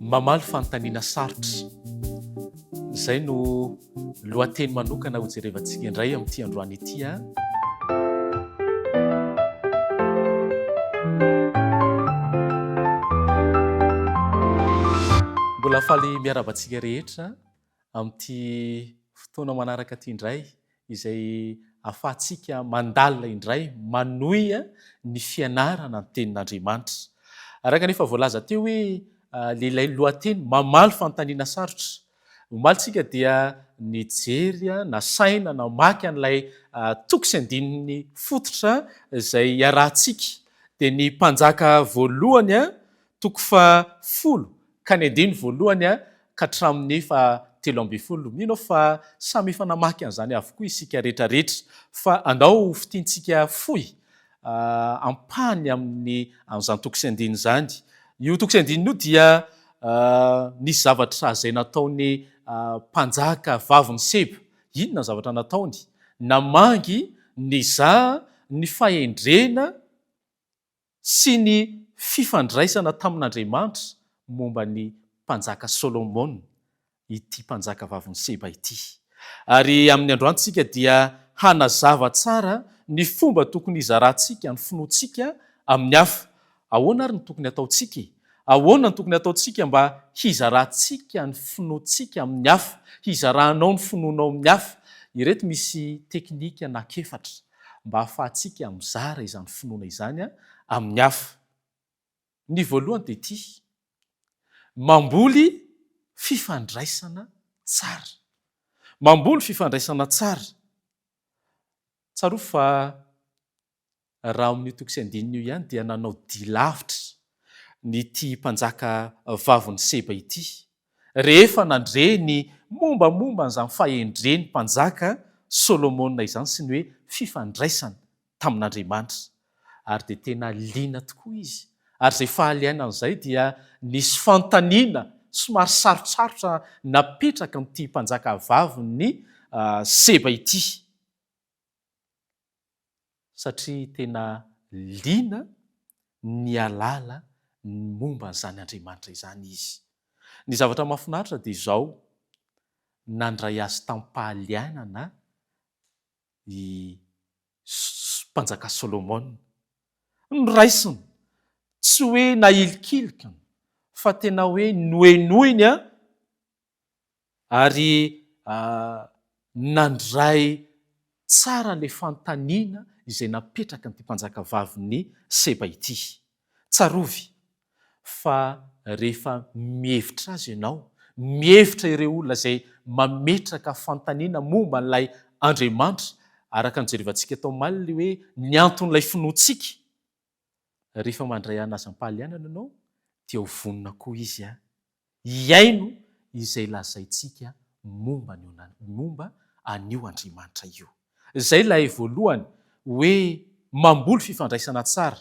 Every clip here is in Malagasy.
Mamaly fanontaniana sarotra. Izay no lohateny manokana hojerevantsika indray amin'ity androany ity a! Mbola faly miarahaba antsika rehetra. amin'ity fotoana manaraka ity indray izay ahafahantsika mandalina indray manohy ny fianarana ny Tenin'Andriamanitra. Araka ny efa voalaza teo hoe ilay lohateny mamaly fanontaniana sarotra. Omaly isika dia nijery, nasaina namaky an'ilay toko sy andininy fototra izay iarahantsika. Dia ny mpanjaka voalohany Toko faha folo ka ny andininy voalohany ka hatramin'ny faha telo ambin'ny folo. Mino aho fa samy efa namaky an'izany avokoa isika rehetra rehetra fa andao ho fintintsika fohy ampahany amin'ny an'izany toko sy andininy izany. Io toko sy andininy io dia nisy zavatra izay nataon'ny mpanjaka vavin'i Seba. Inona ny zavatra nataony? Namangy nizaha ny fahendrena sy ny fifandraisana tamin'Andriamanitra momba ny Mpanjaka Solomona ity mpanjaka vavin'i Seba ity. Ary amin'ny androantsika dia hanazava tsara ny fomba tokony hizarantsika ny finoantsika amin'ny hafa. Ahoana ary no tokony hataontsika e? Ahoana no tokony hataontsika mba hizarantsika ny finoantsika amin'ny hafa, hizaranao ny finoanao amin'ny hafa? Ireto misy teknika anak'efatra. mba hahafahantsika mizara izany finoana izany amin'ny hafa. Ny voalohany dia ity, mamboly fifandraisana tsara. Mamboly fifandraisana tsara. Tsarovy fa raha ao amin'io toko sy andininy io ihany dia nanao dia lavitra ity mpanjaka vavin'i Seba ity. Rehefa nandre ny mombamomba an'izany fahendren'ny Mpanjaka Solomona izany sy ny hoe fifandraisany tamin'Andriamanitra ary dia tena liana tokoa izy ary izay faly aina an'izay dia nisy fanontaniana somary sarotsarotra napetraka amin'ity mpanjaka vavin'i Seba ity. satria tena liana ny hialala ny momba an'izany Andriamanitra izany izy. Ny zavatra mahafinaritra dia izao, nandray azy tamim-pahalianana i Mpanjaka Solomona. Noraisiny, tsy hoe nahilikilikiny, fa tena hoe nohenoiny ary nandray tsara ilay fanontaniana izay napetraka an'ity mpanjakavavin'i Seba ity. Tsarovy fa rehefa mihevitra azy ianao, mihevitra ireo olona izay mametraka fanontaniana momba an'ilay Andriamanitra, araka ny jerevantsika tao omaly, hoe ny anton'ilay finoantsika, Rehefa mandray an'azam-pahalianana ianao dia ho vonona koa izy hihaino izay lazaintsika momba momba an'io Andriamanitra io. Izay ilay voalohany hoe mamboly fifandraisana tsara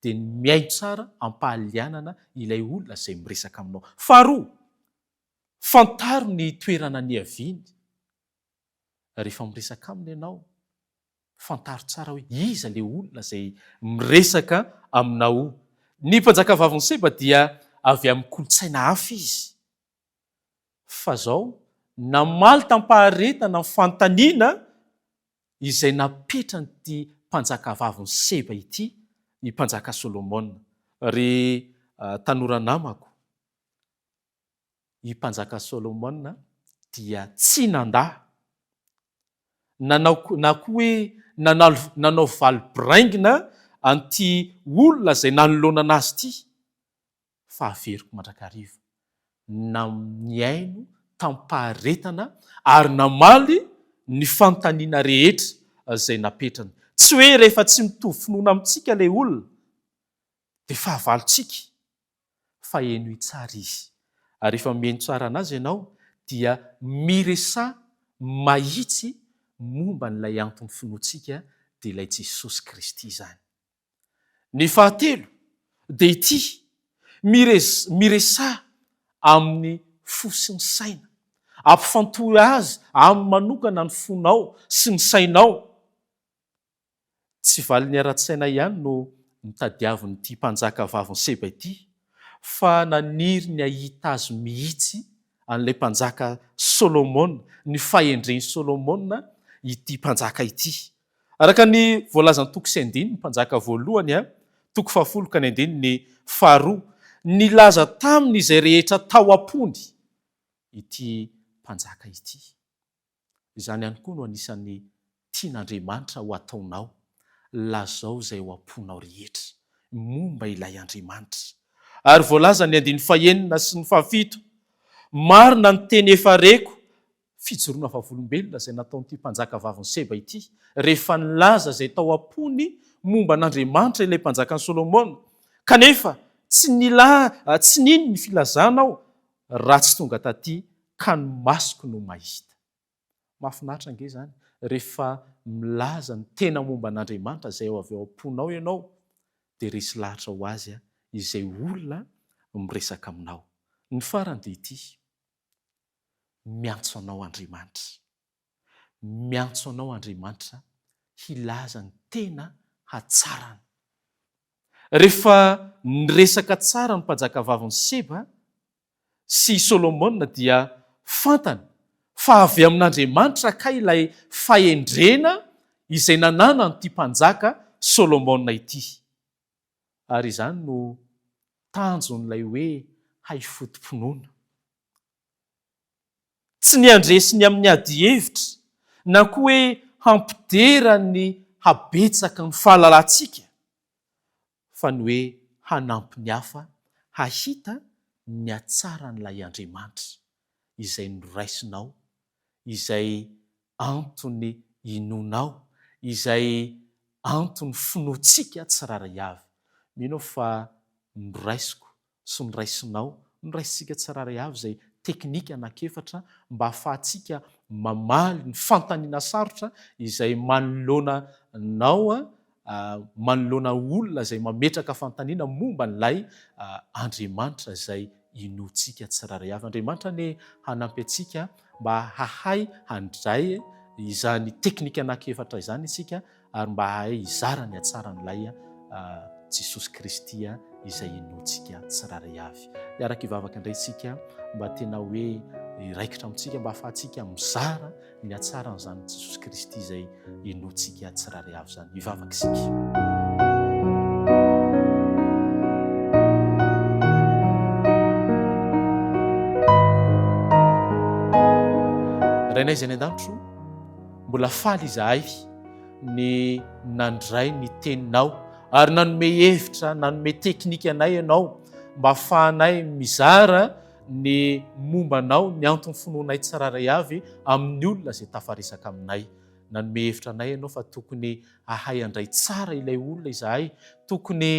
dia ny mihaino tsara am-pahalianana ilay olona izay miresaka aminao. Faharoa, fantaro ny toerana niaviany. Rehefa miresaka aminy ianao Fantaro tsara hoe iza ilay olona izay miresaka aminao. Ny mpanjakavavin'i Seba dia avy amin'ny kolontsaina hafa izy. Fa izao, namaly tam-paharetana ny fanontaniana izay napetran'ity mpanjakavavin'i Seba ity i Mpanjaka Solomona, Ry tanora namako, i Mpanjaka Solomona dia tsy nandà nanao na koa hoe nanalo nanao valy biraingina an'ity olona izay nanoloanana azy ity fa haveriko mandrakariva. Na nihaino tamim-paharetana ary namaly ny fanontaniana rehetra izay napetrany. Tsy hoe rehefa tsy mitovy finoana amintsika ilay olona dia fahavalontsika fa henoy tsara izy. Ary rehefa mihaino tsara anazy ianao dia miresaha mahitsy momba an'ilay anton'ny finoantsika dia ilay Jesosy Kristy izany. Ny fahatelo dia ity, miresaha amin'ny fo sy ny saina. Ampifantohy azy aminy manokana ny fonao sy ny sainao. Tsy valiny ara-tsaina ihany no notadiavin'ity mpanjaka vavin'i Seba ity, fa naniry ny hahita azy mihitsy an'ilay mpanjaka Solomona, ny fahendren'i Solomona, ity mpanjaka ity. Araka ny voalazan'ny toko sy andininy, Mpanjaka voalohany, toko fahafolo ka ny andininy faharoa, nilaza taminy izay rehetra tao am-pony ity mpanjaka ity. Izany ihany koa no anisan'ny tian'Andriamanitra ho ataonao, lazao izay ao am-ponao rehetra momba ilay Andriamanitra. Ary voalazan' ny andininy fahenina sy ny fahafito, Marina ny teny efa reko, fijoroana vavolombelona izay nataon'ity mpanjaka vavin'i Seba ity, rehefa nilaza izay tao am-pony momba an'Andriamanitra ilay mpanjakan'i Solomona, kanefa tsy nila, tsy nino ny filazana aho, raha tsy tonga taty ka ny masoko no mahita. Mahafinaritra ange izany rehefa milaza ny tena momba an'Andriamanitra izay avy ao am-ponao ianao dia resy lahatra ho azy izay olona miresaka aminao. Ny farany dia ity, Miantso anao Andriamanitra. Miantso anao Andriamanitra hilaza ny tena hatsarany. Rehefa niresaka tsara ny mpajakavavin'i Seba sy i Solomona dia fantany fa avy amin'Andriamanitra kay ilay fahendrena izay nananan'ity mpanjaka Solomona ity. Ary izany no tanjon'ilay hoe hay foto-pinoana. tsy ny handresy ny amin'ny adihevitra na koa hoe hampidera ny habetsaky ny fahalalantsika fa ny hoe hanampy ny hafa hahita ny hatsaran'ilay Andriamanitra izay noraisinao, izay antony inoanao, izay antony finoantsika tsirairay avy. Mino aho fa noraisiko sy noraisinao, noraisintsika tsirairay avy izay teknika anankiefatra mba hahafahantsika mamaly ny fanontaniana sarotra izay manoloana anao, manoloana olona izay mametraka fanontaniana momba an'ilay Andriamanitra izay inoantsika tsirairay avy. Andriamanitra anie hanampy antsika mba hahay handray izany teknika anankiefatra izany isika Ary mba hahay hizara ny hatsaran'Ilay Jesosy Kristy izay inoantsika tsirairay avy. Hiaraka hivavaka indray isika mba tena hoe hiraikitra amintsika mba hahafahantsika mizara ny hatsaran'izany Jesosy Kristy izay inoantsika tsirairay avy izany. Hivavaka isika. Rainay izay any an-danitro, Mbola faly izahay ny nandray ny teninao ary nanome hevitra, nanome teknika anay ianao mba hahafahanay mizara ny momba anao, ny antony finoanay tsirairay avy amin'ny olona izay tafaresaka aminay. Nanome hevitra anay ianao fa tokony hahay handray tsara ilay olona izahay, tokony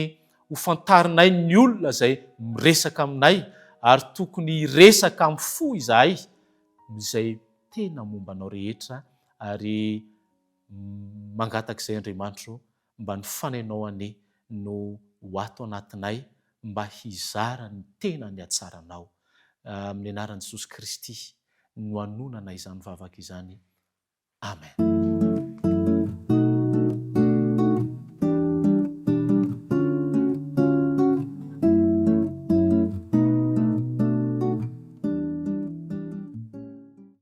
hofantarinay ny olona izay miresaka aminay ary tokony hiresaka amin'ny fo izahay izay tena momba anao rehetra ary mangataka izay Andriamanitro mba ny fanainao anie no ho ato anatinay mba hizara ny tena ny hatsaranao amin'ny anaran'i Jesosy Kristy no anonana izany vavaka izany Amen.